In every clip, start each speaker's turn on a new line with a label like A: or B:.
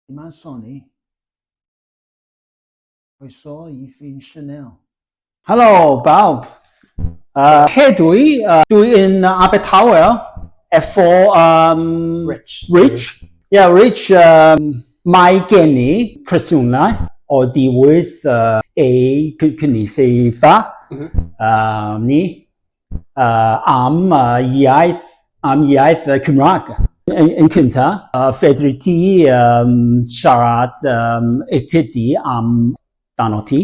A: Yma Sony. Croeso i Ffin Chanel. Helo,
B: bawb. Uh, hedw i, uh, dwi yn uh, Abertawe, efo um, Rich. Rich. Yeah, Rich, um, mae gen i presiwnau o diwyd uh, ei cynulleidfa mm -hmm. uh, ni. am iaith, am iaith y Cymraeg yn, yn cynta. Uh, fedri ti um, siarad um, y cydi am dan o ti?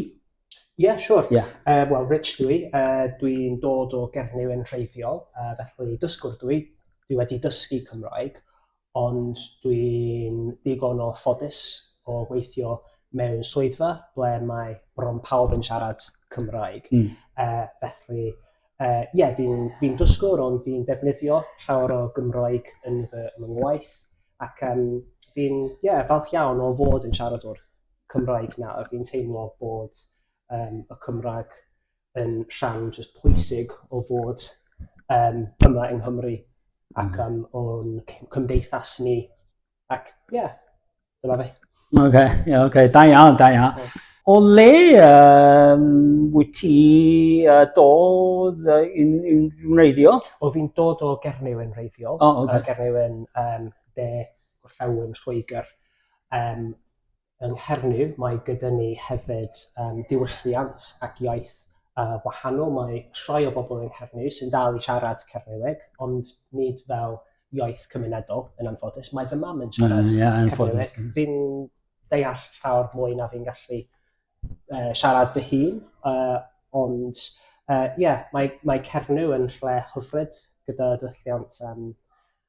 B: Ie, yeah, siwr.
C: Sure. Yeah. Uh, Wel, Rich
B: dwi,
C: uh, dwi'n dod o Gernyw yn rheiddiol, uh, felly dysgwr dwi, dwi wedi dysgu Cymraeg, ond dwi'n digon o ffodus o weithio mewn swyddfa ble mae bron pawb yn siarad Cymraeg. Mm. Uh, felly, ie, uh, yeah, fi'n fi dysgwr ond fi'n defnyddio llawer o Gymraeg yn fy ngwaith ac um, fi'n yeah, falch iawn o fod yn siaradwr Cymraeg nawr. Fi'n teimlo bod um, y Cymraeg yn rhan jyst pwysig o fod yym yma yng Nghymru ac yym o'n c- cymdeithas ni ac ie dyna fe. Oce ie oce
B: da iawn da iawn. O le yym wyt ti yy dod yy yn yn wreiddiol? O fi'n dod o
C: Gernyw yn wreiddiol. O oce. Yy Gernyw yn yym de gorllewin Lloegr yym Yng Nghernyw mae gyda ni hefyd yym diwylliant ac iaith yy wahanol, mae rhai o bobl yng Nghernyw sy'n dal i siarad Cernyweg ond nid fel iaith cymunedol yn anffodus. Mae fy mam yn siarad... Mm ie yn anffodus. ...Cernyweg. Fi'n deall llawer mwy na fi'n gallu yy siarad fy hun yy ond yy ie mae mae Cernyw yn lle hyfryd gyda diwylliant yym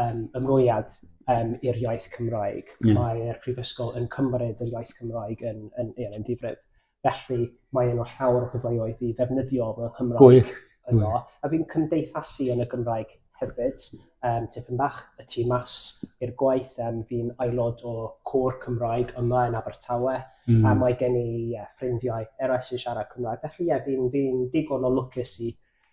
C: um, ymrwymiad um, i'r iaith Cymraeg. Mm. Mae'r prifysgol yn cymryd yr iaith Cymraeg yn, yn, yn, yn ddifrif. Felly mae yna llawer o gyfleoedd i ddefnyddio fy Nghymraeg Gwych. yno. A fi'n cymdeithasu yn y Gymraeg hefyd, um, tipyn bach y tu mas i'r gwaith. Um, fi'n aelod o cwr Cymraeg yma yn Abertawe, mm. a mae gen i uh, ffrindiau eraill sy'n siarad Cymraeg. Felly ie, yeah, fi'n fi digon o lwcus i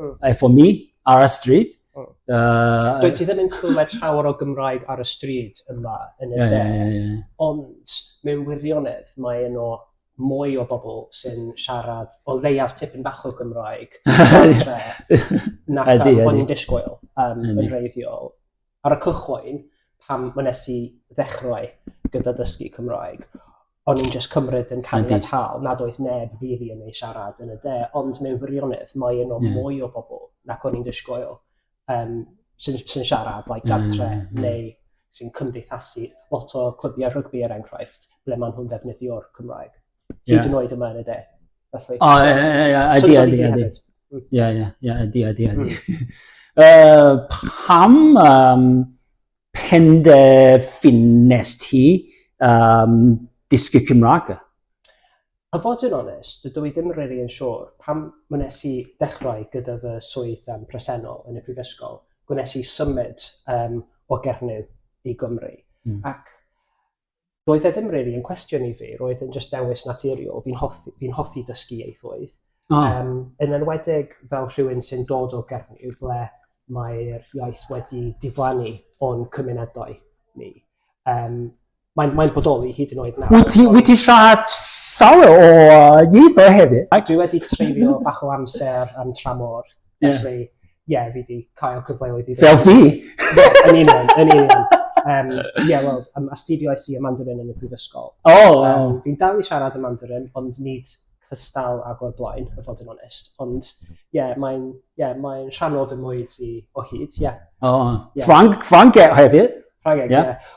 B: mm. efo mi ar y stryd. Mm. Uh, Dwi
C: ti ddim yn clywed llawer o Gymraeg ar y stryd yma yn y yeah, de, yeah, yeah. ond mewn wirionedd mae yno mwy o bobl sy'n siarad o leiaf tipyn bach o Gymraeg na bod ni'n disgwyl um, yn reiddiol. Ar y cychwyn, pan wnes i ddechrau gyda dysgu Cymraeg, o'n i'n jyst cymryd yn caniatâol nad oedd neb rili yn ei siarad yn y de, ond mewn gwirionedd, mae yno mwy o bobl nac o'n i'n disgwyl um, sy'n sy siarad like, gartre mm, mm. neu sy'n cymdeithasu lot o clybiau rygbi er enghraifft, ble maen nhw'n ddefnyddio'r Cymraeg. Hyd yn oed yma yn y de. Felly.
B: O, ie, ie, ie, ydy, ydy, ydy. Ie, ie, ie, ydy, ydy, ydy. Hmm. Pam um, penderfynes ti um, dysgu Cymraeg? A
C: fod yn onest, dydw i ddim really yn siŵr pam wnes i ddechrau gyda fy swydd um, presennol yn y prifysgol, gwnes i symud um, o Gernyw i Gymru. Mm. Ac roedd e ddim rili really yn cwestiwn i fi, roedd e'n just dewis naturiol, fi'n hoffi, fi hoffi dysgu ieithoedd. Oh. Um, yn enwedig fel rhywun sy'n dod o Gernyw ble mae'r iaith wedi diflannu o'n cymunedau ni. Um, mae'n mae bodoli hyd yn oed nawr. Wyt ti, wyt ti siarad
B: llawer o ieithoedd hefyd? Dwi wedi treulio
C: bach o amser am tramor Yeah. Felly, ie, yeah, fi wedi cael cyfleoedd i... Fel fi! Ie,
B: yn union,
C: yn union. Um, ie, wel, um, astudio i y Mandarin yn y prifysgol. O! Oh, wow. Um, fi'n dal i siarad y Mandarin, ond nid cystal ag o'r blaen, y fod yn onest. Ond, ie, yeah, mae'n yeah, mae rhan o fy mwy i o hyd, ie. Yeah. O, oh. yeah. Ffrang,
B: Ffrangeg hefyd? Ffrangeg, ie. Yeah. Yeah.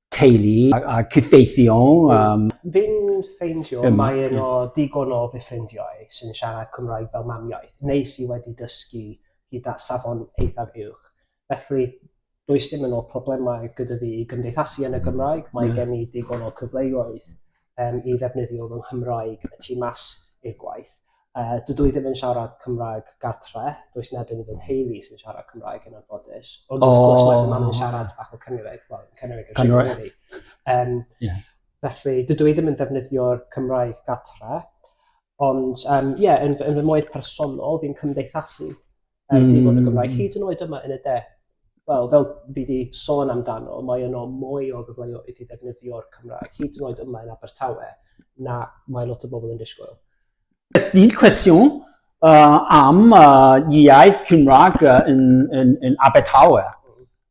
B: teulu a cydweithio. Fi'n
C: ffeindio mae yno digon o fy ffrindiau sy'n siarad Cymraeg fel mamiaith, neu sy wedi dysgu gyda safon eithaf uwch. Felly, does dim yn o problemau gyda fi i gymdeithasu yn y Gymraeg, mae gen i digon o cyfleoedd um, i ddefnyddio fy Nghymraeg y tu mas i'r gwaith. Uh, dydw i ddim yn siarad Cymraeg gartre, does neb yn fy nheulu sy'n siarad Cymraeg yn anffodus. Ond oh. wrth gwrs mae fy mam yn siarad bach o Cymraeg, wel, Cymraeg yn Cymraeg. Um, yeah. Felly, dydw i ddim yn defnyddio'r Cymraeg gartre, ond um, yeah, yn, yn fy moed personol, fi'n cymdeithasu Yy mm. dim ond y Gymraeg, hyd yn oed yma yn y de. Wel, fel fi wedi sôn amdano, mae yno mwy o gyfleoedd i ddefnyddio'r Cymraeg, hyd yn oed yma yn Abertawe, na mae lot o bobl yn disgwyl. Ysdyn
B: cwestiwn uh, am uh, iaith Cymraeg uh, yn, yn, yn Abertawe.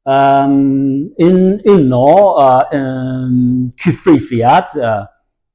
B: Um, yn uno uh, um, cyfrifiad uh,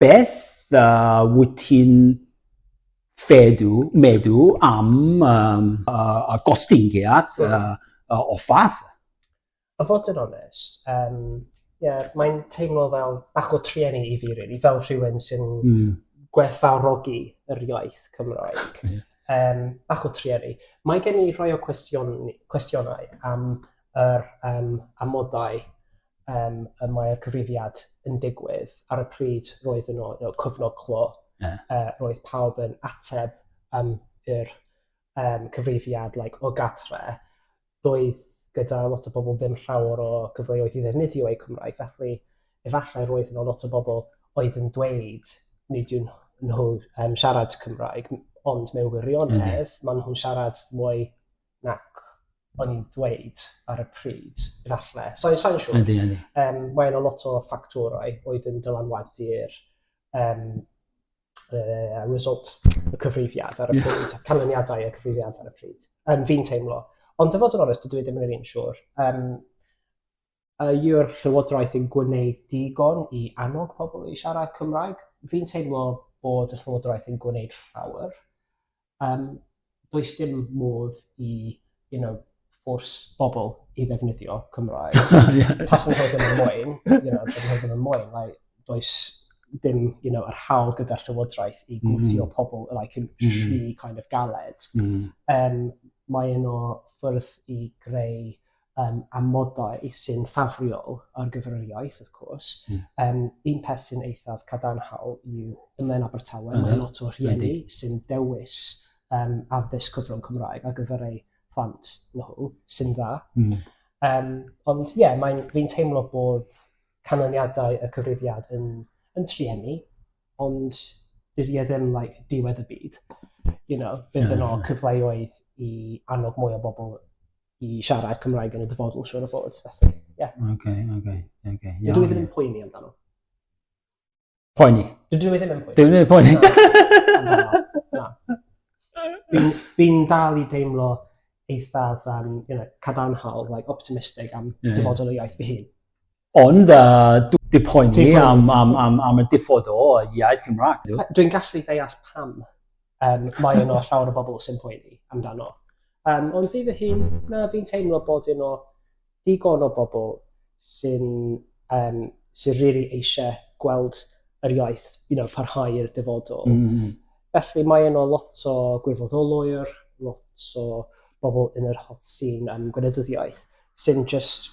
B: Beth a wyt ti'n fedu, medu am um, uh, y gostyngiad uh, uh, o fath? A fod
C: yn onest, um, yeah, mae'n teimlo fel bach o trueni i fi, really, fel rhywun sy'n mm. gwerthfawrogi yr iaith Cymraeg. yeah. um, bach o trueni. Mae gen i rhoi o cwestiwn, cwestiynau am yr um, amodau um, y mae'r cyfrifiad yn digwydd, ar y pryd roedd yn o'r cyfnod clo, yeah. uh, roedd pawb yn ateb um, yr um, cyfrifiad like, o gatre, roedd gyda lot o bobl ddim llawer o gyfleoedd i ddefnyddio eu Cymraeg, felly efallai roedd yna lot o bobl oedd yn dweud nid yw'n nhw um, siarad Cymraeg, ond mewn wirionedd, maen nhw'n siarad mwy nac o'n i'n dweud ar y pryd, efallai. So, sa'n siŵr. Ydy, ydy. Um, mae yna lot o ffactorau oedd yn dylanwadu'r um, uh, results y cyfrifiad ar y yeah. pryd, canlyniadau y cyfrifiad ar y pryd. Um, fi'n teimlo. Ond dyfod yn onest, dwi ddim yn yr un siwr. Um, yw'r Llywodraeth yn gwneud digon i annog pobl i siarad Cymraeg? Fi'n teimlo bod y Llywodraeth yn gwneud llawer. Yym does dim modd i you know ffôrs bobl i ddefnyddio Cymraeg. Taswn i'n gwbod yn mwy you know taswn i'n gwbod yn mwy like does dim you know yr hawl gyda'r Llywodraeth i gwthio pobl like yn rhy kind of galed. Yym mae un o ffyrdd i greu yym amodau sy'n ffafriol ar gyfer yr iaith wrth cwrs. Mm. Yym un peth sy'n eithaf cadarnhaol yw yma yn Abertawe mm. mae lot o rhieni sy'n dewis um, addysg cyfrwng Cymraeg ar gyfer eu plant nhw sy'n dda. Mm. Um, ond ie, yeah, fi'n teimlo bod canlyniadau y cyfrifiad yn, yn triennu, ond bydd e ddim like, diwedd y byd. You know, bydd yno cyfleoedd i annog mwy o bobl i siarad Cymraeg yn y dyfodol, siwr o fod. Felly, ie. Yeah. Oce, okay, oce, okay, oce. Okay. Yeah, Dydw i ddim yn poeni amdano.
B: Poeni? Dydw i ddim yn
C: poeni. Dydw i ddim yn poeni. Na. Fi'n dal i deimlo eithaf um, you know, cadarnhaol, like, optimistig am yeah. dyfodol y iaith fy hun. Ond
B: dw di poeni am am am am y diffod o iaith Cymraeg. Dwi'n gallu deall
C: pam um, mae yno llawer o bobl sy'n poeni amdano. Um, ond fi fy hun, na, fi'n teimlo bod yno digon o bobl sy'n um, sy'n rili really eisiau gweld yr iaith you know, parhau i'r dyfodol. Mm. -hmm. Felly mae yno lot o gwirfoddolwyr, lot o bobl yn yr holl sy'n um, gwleidyddiaeth, sy'n just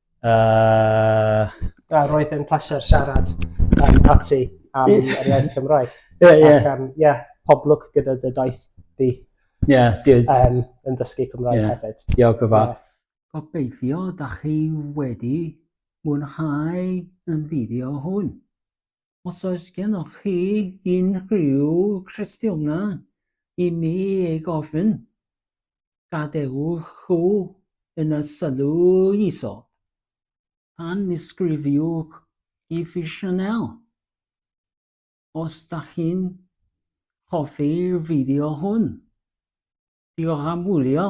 C: Uh... A roedd yn pleser siarad yn pati am yr iaith Cymraeg. Ie, yeah, ie. Yeah. Um, yeah,
B: pob lwc gyda
C: dy daith di. Ie, yeah,
B: good. Um, yn dysgu
C: Cymraeg yeah. hefyd. Diolch o fa. Yeah.
B: Gobeithio
A: da chi wedi mwynhau yn fideo hwn. Os oes gennoch chi unrhyw gwestiynau i mi ei gofyn, gadewch o yn y sylw isod. Pan mi sgrifiwch i fi Chanel, os da chi'n hoffi'r fideo hwn. Diolch am wylio.